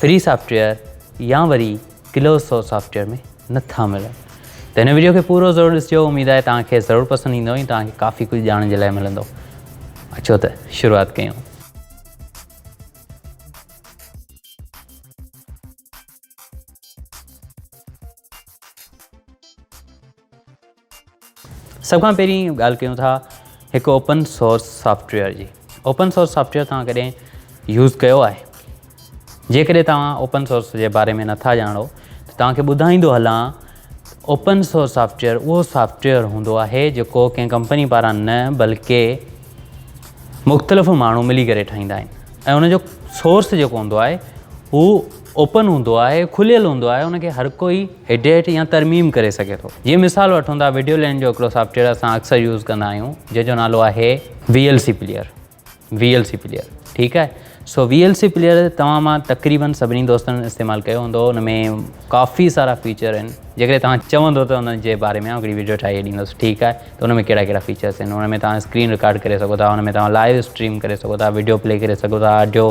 Free software يا وري close source software ۾ نه ٿا ملن ته هن وڊيو کي پورو ضرور ڏسجو اميد آهي توهان کي ضرور پسند ايندو ۽ توهان کي ڪافي ڪجهه ڄاڻڻ جي لاء ملندو اچو ته شروعات ڪيون. سڀ کان پهرين ڳالهه ڪيون ٿا هڪ اوپن سورس سافٽويئر جي اوپن سورس سافٽويئر توهان ڪڏهن يوز ڪيو آهي جيڪڏهن توهان اوپن سورس جي باري ۾ نٿا ڄاڻو ته توهانکي ٻڌائيندو هلان اوپن سورس سافٽويئر اهو سافٽويئر هوندو آهي جيڪو ڪنهن ڪمپني پاران نه بلڪه مختلف ماڻهو ملي ڪري ٺاهيندا آهن ۽ ان جو سورس جيڪو هوندو آهي هو اوپن هوندو آهي کليل هوندو آهي ان کي هر ڪوئي ايڊيٽ يا ترميم ڪري سگهي ٿو جيئن مثال وٺون ٿا ويڊيو لينڊ جو هڪڙو سافٽويئر اسان اڪثر يوز ڪندا آهيون جنهن جو نالو آهي V L C player V L C player ٺيڪ آهي سو وي ايل سي پليئر توهان مان تقريبن سڀني دوستن استعمال ڪيو هوندو ان ۾ ڪافي سارا فيچر آهن جيڪڏهن توهان چوندو ته ان جي باري ۾ آئون هڪڙي ويڊيو ٺاهي ڏيندس ٺيڪ آهي ته ان ۾ ڪهڙا ڪهڙا فيچرس آهن ان ۾ توهان اسڪرين رڪارڊ ڪري سگهو ٿا ان ۾ توهان لائيو اسٽريم ڪري سگهو ٿا ويڊيو پلي ڪري سگهو ٿا آڊيو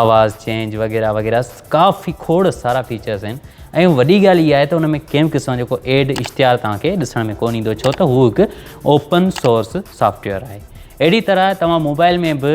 آواز چينج وغيره وغيره ڪافي کوڙ سارا فيچرس آهن ۽ وڏي ڳالهه اها آهي ته ان ۾ ڪنهن به قسم جو ڪو ايڊ اشتهار توهان کي ڏسڻ ۾ ڪونه ايندو ڇو ته هو هڪ اوپن سورس سافٽويئر آهي اهڙي طرح توهان موبائل ۾ به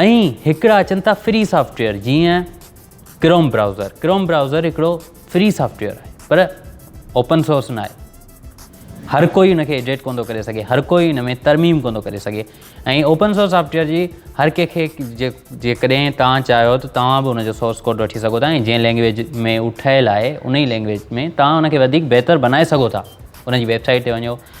ائين هڪڙا اچن ٿا فري سافٽويئر جيئن ڪروم براؤزر ڪروم براؤزر هڪڙو فري سافٽويئر آهي پر اوپن سورس نه آهي هر ڪوئي ان کي ايڊيٽ ڪون ٿو ڪري سگهي هر ڪوئي ان ۾ ترميم ڪون ٿو ڪري سگهي ۽ اوپن سورس سافٽويئر جي هر ڪنهن کي جيڪڏهن توهان چاهيو ته توهان به ان جو سورس ڪوڊ وٺي سگهو ٿا ۽ جنهن لينگويج ۾ اهو ٺهيل آهي ان ئي لينگويج ۾ توهان ان کي وڌيڪ بهتر بنائي سگهو ٿا ان جي ويبسائٽ تي وڃو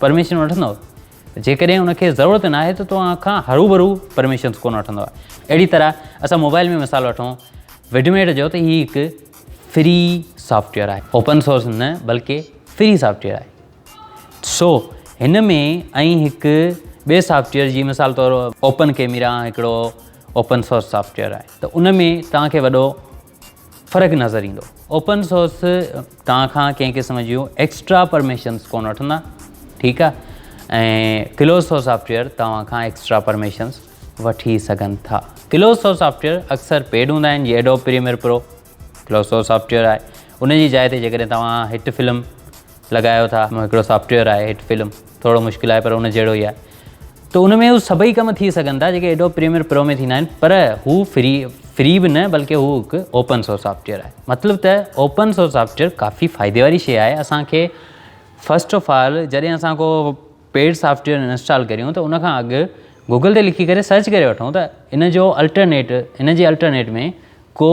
پرميشن وٺندؤ جيڪڏهن ان کي ضرورت نه آهي ته توهان کان هروڀرو پرميشنس ڪونه وٺندو اهڙي طرح اسان موبائل ۾ مثال وٺون وڊميٽ جو ته هي هڪ فري سافٽويئر آهي اوپن سورس نه بلڪه فري سافٽويئر آهي سو هن ۾ ائين هڪ ٻئي سافٽويئر جي مثال طور اوپن ڪيميرا هڪڙو اوپن سورس سافٽويئر آهي ته ان ۾ توهان کي وڏو فرق نظر ايندو اوپن سورس توهان کان ڪنهن قسم جون ايڪسٽرا پرميشنس ڪون وٺندا ٺيڪ آهي ۽ ڪلوز سورس سافٽويئر توهان کان ايڪسٽرا پرميشنس وٺي سگهن ٿا ڪلوز سورس سافٽويئر اڪثر پيڊ هوندا آهن جي Adobe Premiere Pro close source software آهي ان جي جاء تي جيڪڏهن توهان هٽ فلم لڳايو ٿا هڪڙو سافٽويئر آهي هٽ فلم ٿورو مشڪل آهي پر ان جهڙو ئي آهي ته ان ۾ هو سڀئي ڪم ٿي سگهن ٿا جيڪي ايڊوب پريميئر پرو ۾ ٿيندا آهن پر هو فري فري به نه بلڪه هو هڪ اوپن سورس سافٽويئر آهي مطلب ته اوپن سورس سافٽويئر ڪافي فائدي واري شيء آهي اسان کي فرسٽ آف آل جڏهن اسان ڪو پيڊ سافٽويئر انسٽال ڪريون ته ان کان اڳ گوگل تي لکي ڪري سرچ ڪري وٺون ته ان جو الٽرنيٽ ان جي الٽرنيٽ ۾ ڪو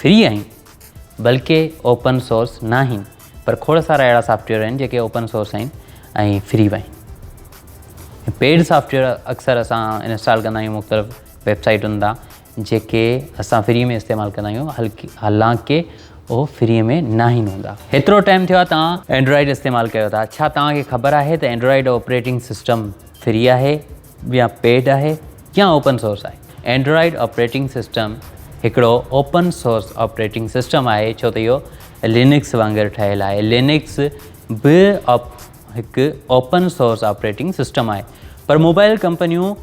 فري آهن بلڪه اوپن سورس ناهن پر کوڙ سارا اهڙا سافٽ ويئر آهن جيڪي اوپن سورس آهن ۽ فري به آهن پيڊ سافٽ ويئر اڪثر اسان انسٽال ڪندا آهيون مختلف ويب سائيٽن تان جيڪي اسان فري ۾ استعمال ڪندا آهيون هلڪي حالانڪه اهو فري ۾ ناهن هوندا هيترو ٽائم ٿيو آهي توهان اينڊرائڊ استعمال ڪيو ٿا ڇا توهان کي خبر آهي ته اينڊرائڊ آپريٽنگ سسٽم فري آهي يا پيڊ آهي يا اوپن سورس آهي. اينڊرائيڊ آپريٽنگ سسٽم هڪڙو اوپن سورس آپريٽنگ سسٽم آهي ڇو ته اهو لينڪس وانگر ٺهيل آهي. لينڪس به هڪ اوپن سورس آپريٽنگ سسٽم آهي پر موبائل ڪمپنيون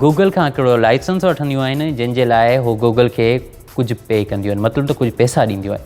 گوگل کان هڪڙو لائسنس وٺنديون آهن جنهن جي لاء هو گوگل کي ڪجهه پي ڪنديون آهن مطلب ته ڪجهه پئسا ڏينديون آهن.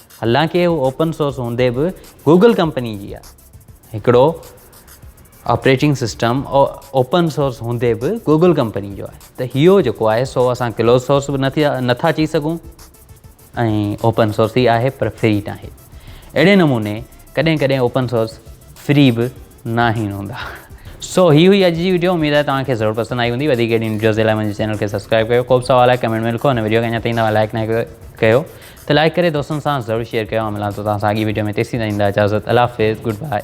حالانڪه هو اوپن سورس هوندي به گوگل ڪمپني جي آهي. هڪڙو آپريٽنگ سسٽم اوپن سورس هوندي به گوگل ڪمپني جو آهي ته هيو جيڪو آهي سو اسان ڪلوز سورس به نٿا چئي سگهون ۽ اوپن سورس ئي آهي پر فري ناهي. اهڙي نموني ڪڏهن ڪڏهن اوپن سورس فري به ناهن هوندا. سو هي هئي اڄ جي وڊيو اميد آهي توهان کي ضرور پسند آئي هوندي وڌيڪ اهڙين وڊيوز جي لاء منهنجي چينل کي سبسڪرائب ڪيو ڪوبه سوال آهي ڪمينٽ ۾ لکو ان وڊيو کي اڃا تائين توهان لائڪ ناهي ڪيو ته لائڪ ڪري دوستن سان ضرور شيئر ڪيو آئون ملان ٿو توهان سان اڳي وڊيو ۾ تيسين تائين ڏيندا اجازت الله حافظ گڊ بائي.